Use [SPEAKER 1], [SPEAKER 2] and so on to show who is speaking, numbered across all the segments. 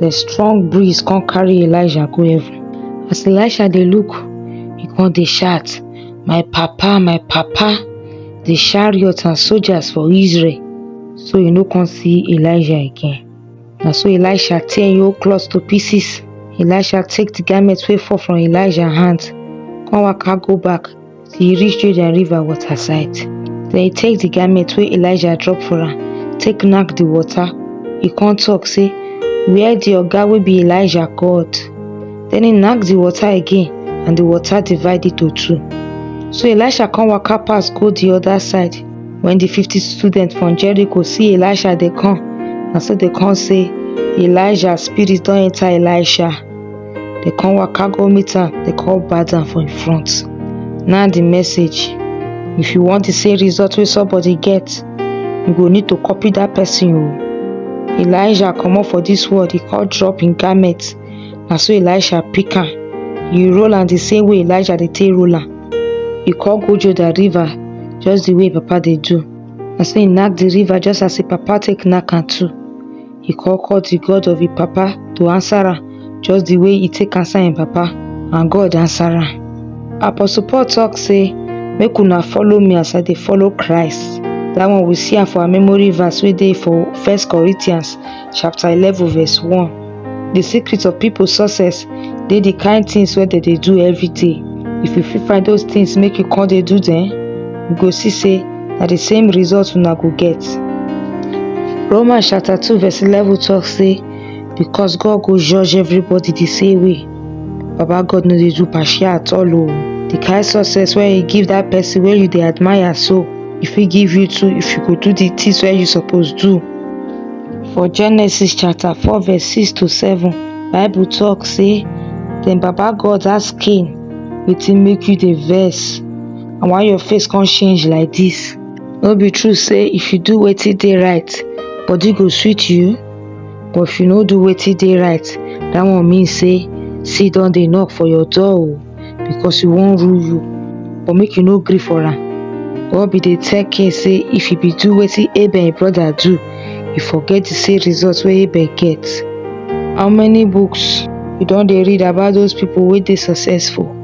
[SPEAKER 1] The strong breeze come carry Elijah go heaven. As Elijah dey look, he come dey shout, My papa, my papa, the chariots and soldiers for Israel. So you no come see Elijah again. Na so Elisha tear im old cloth to pieces. Elisha take the garment wey fall from Elijah hand, come waka go back till e reach Jordan river water side. Den e take di garment wey Elijah drop for am take knack di water, e come talk sey, where di oga wey be Elijah God? Den e knack di water again and di water divide into two. So Elisha come waka pass go di other side, wen di fifty students from Jericho see Elisha dey come, na so dem come sey, Elijah spirit don enter Elisha. They come waka go meet am, they come bat am for im front. Now the message, if you want the same result wey somebody get, you go need to copy that person o. Elijah comot for this world, he come drop im garment. Na so Elisha pick am, he roll am the same way Elijah dey take roll am. He come go Jordan river just the way im papa dey do. Na so he knack the river just as im papa take knack am too. e come call the God of him papa to answer am just the way he take answer him papa and God answer am. Apostle Paul talk say make una follow me as I dey follow Christ. That one we see am for our memory verse wey dey for First Corinthians chapter eleven verse one. The secret of people success dey the kind things wey dem dey do every day. If you fit find those things make you come dey do dem, you go see say na the same result una go get. Roman chapter two verse eleven talk say because God go judge everybody the same way. Baba God no dey do partial at all o. The kind success wey you give that person wey you dey admire so, e fit give you too if you go do the things wey you suppose do. For Genesis chapter four verse six to seven, Bible talk say then Baba God ask Cain wetin make you dey vex? and why your face come change like this? No be true say if you do wetin dey right, body go sweet you? But if you no do wetin dey right, that one mean say see don dey knock for your door o oh, because you wan rule you. But make you no gree for am. God be dey tell Cain say if he be do wetin Abel him brother do, he forget the same result wey Abel get. How many books you don dey read about those people wey dey successful?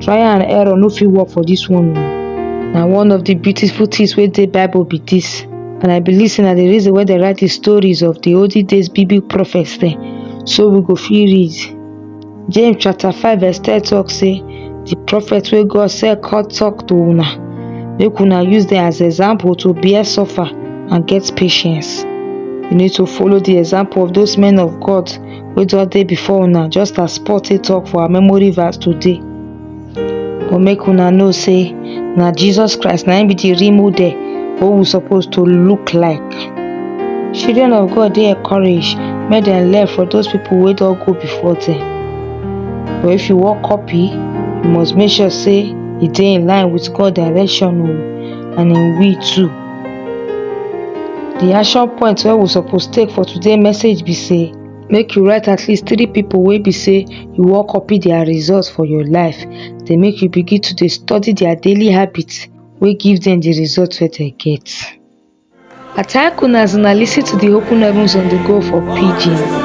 [SPEAKER 1] try and error no fit work for this one na one of the beautiful things wey dey bible be this and i believe say na the reason why they write the stories of the olden days biblical prophets dem so we go fit read james chapter 5 verse 10 talk say the prophet wey god send come talk to una make una use them as example to bear suffer and get patience you need to follow the example of those men of god wey don dey before una just as Paul take talk for our memory verse today but make una know say na Jesus Christ na him be the real model wey we suppose to look like children of God dey encouraged make dem learn from those people wey don go before them but if you wan copy you must make sure say e dey in line with God direction o and him will too The action point wey we suppose take for today message be say make you write at least three people wey be say you wan copy their results for your life dey make you begin to dey study their daily habits wey give them the results wey they get. I thank una as una listen to the Open Heavens on the Go for Pidgin.